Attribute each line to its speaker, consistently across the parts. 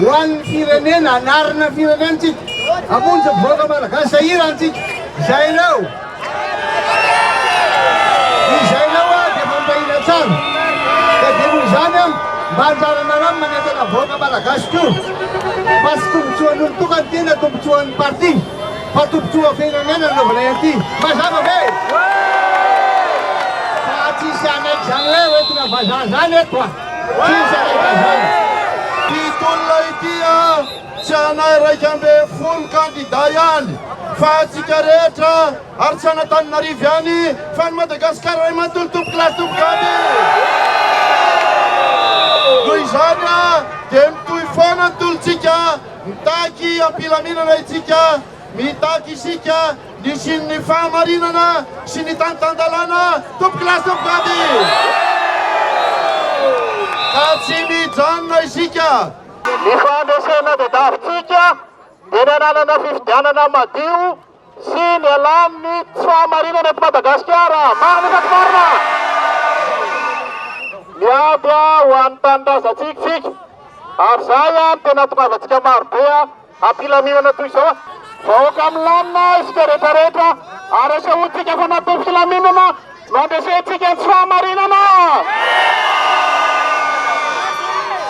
Speaker 1: Ho an'ny firenena, hanarina ny firenentsika, hamonjy ny vahoaka malagasy sahirantsika. Izay anao. Izay anao aho dia fampahina tsara. Dia dinon' izany aho mba anjaranareo ny manentana ny vahoaka malagasy koa. Fa tsy tombotsoan'olon-tokana ity na tombotsoan'ny parti fa tombotsoan'ny firenena no anaovanay an'ity. Mazava ve? Fa tsy hisy hanaiky izany hoe hoentina vazaha izany eto a! Tsy zaka izany.
Speaker 2: Ity tolona ity an, tsy anay iraika ambin'ny folo kandida ihany fa antsika rehetra ary tsy an'Antananarivo ihany fa an'i Madagasikara iray manontolo tompokolahy sy tompokavy. Noho izany an, dia mitohy foana ny tolontsika, mitaky am-pilaminana isika, mitaky isika, Nisian'ny fahamarinana sy ny tany tan-dalàna Tompoko lahy sy tompoko vavy! Ka tsy mijanona isika! Ny fandresena tadiavintsika dia ny hananana fifidianana madio sy ny hialan'ny tsy fahamarinana eto Madagasikara. Marina sa tsy marina? Miady ho an'ny tanindrazantsika isika ary izay no tena hahatongavantsika marobe. Am-pilaminana toy izao, vahoaka milamina isika rehetra rehetra, ary asahoantsika fa natao filaminana no andresentsika ny tsy fahamarinana.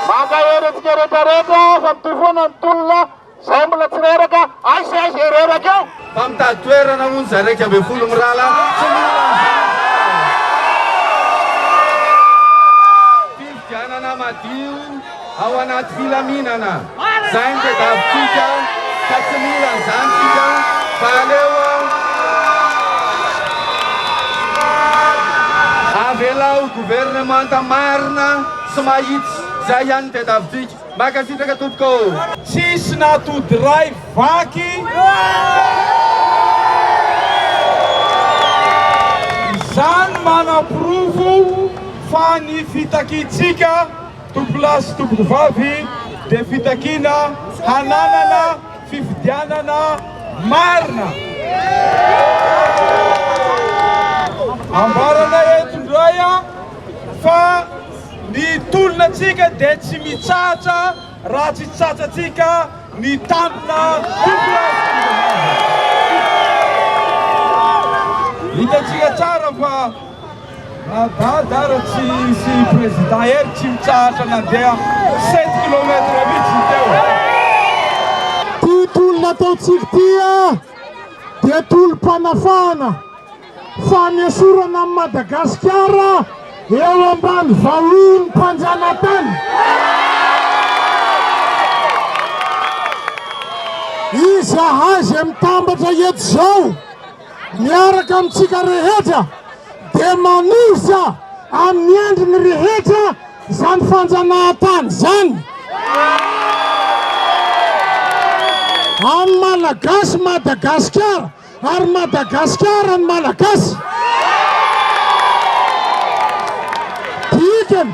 Speaker 2: Mankahery antsika rehetra rehetra fa mitohy foana ny tolona izay mbola tsy reraka, aiza sy aiza ireraka eo. Fa mitady toerana
Speaker 1: hono za iraika ambin'ny folo mirala tsy mila anzavatra. Fifidianana madio ao anaty filaminana zay no tedavitsika ka tsy mila anzany tsika fa aleo avelao gouvernemanta marina sy mahitsy zay ihany no tedavitsika. Mankasitraka tompoko ô! Tsisy
Speaker 3: natody ray vaky Izany manaporofo fa ny fitakiantsika tompolahy sy tompokovavy dia fitakiana hananana fifidianana marina. Ambaranay eto indray fa Ny tolonantsika dia tsy mitsahatra raha tsy tsatsantsika ny tanjona fokonolona. Hitantsika tsara fa na Dada Ratsy sy Prezida Hery tsy mitsahatra nandeha sept kilomètre mihitsy teo. Ity
Speaker 4: tolona ataontsika ity dia tolom-panafahana. Fanesorana an'i Madagasikara eo ambany vahiny mpanjanatany. Izahay izay mitambatra eto izao miaraka amintsika rehetra dia manosa amin'ny endriny rehetra izany fanjanahantany izany. An'ny Malagasy Madagasikara. Ary Madagasikara ny Malagasy! Dikany,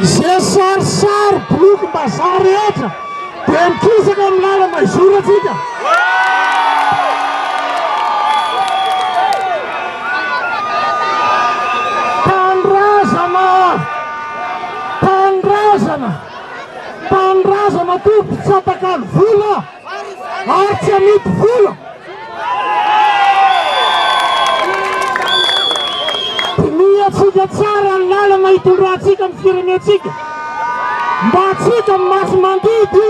Speaker 4: izay sarisary, bolokim-bazaha rehetra dia mikisaka amin'ny lala maizorantsika! Tanindrazana! Tanindrazana! Tanindrazana toa mpitsata-kalo vola! ary tsy amidy vola. Dinihantsika tsara ny lalana hitondrantsika ny firenentsika mba tsy hita ny maso mandidy.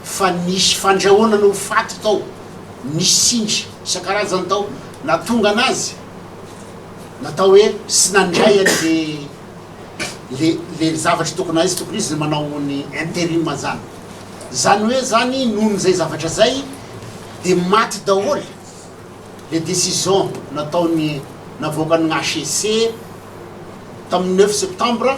Speaker 5: Fa nisy
Speaker 6: fandrahona no ho faty tao, nisy sindry isan-karazany tao nahatonga anazy natao hoe sy nandray an le le le zavatra tokony hay sy tokony izy manao ny interim zany zany hoe zany noho ny zay zavatra zay de maty daholy le decision nataony navoakan'ny HCC tamin'ny neuf septembre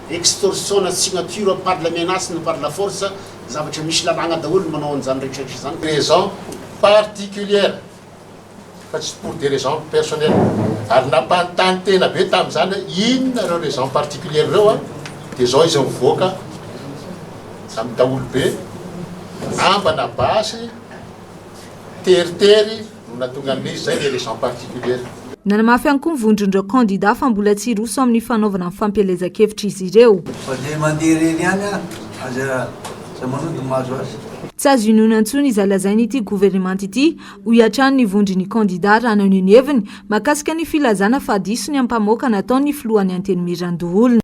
Speaker 6: Extorsion na signature par la menace na par la force zavatra misy lalàgna daholo ny manao an'izany rehetrarehetra izany, raison
Speaker 7: particulière fa tsy pour des raisons personnelles, ary nampanontany tena be tamin'izany hoe inona ireo raisons particulières ireo an, dia izao izy mivoaka amin'ny daholobe, ambana basy, teritery. no nahatonga ny hoe izay ilay raison particulière. Nanamafy ihany koa
Speaker 8: ny vondron'ireo kandidà fa mbola tsy hiroso amin'ny fanaovana ny fampielezan-kevitra izy ireo. Fa dia mandeha irery ihany ary aza aza manohy dia mahazo azy. Tsy azo inoana intsony izay lazain'ity governemanta ity, hoy hatrany ny vondron'ny kandidà raha naneho ny heviny mahakasika ny filazana fa diso ny ampamoaka nataon'ny filohan'ny Antenimierandoholona.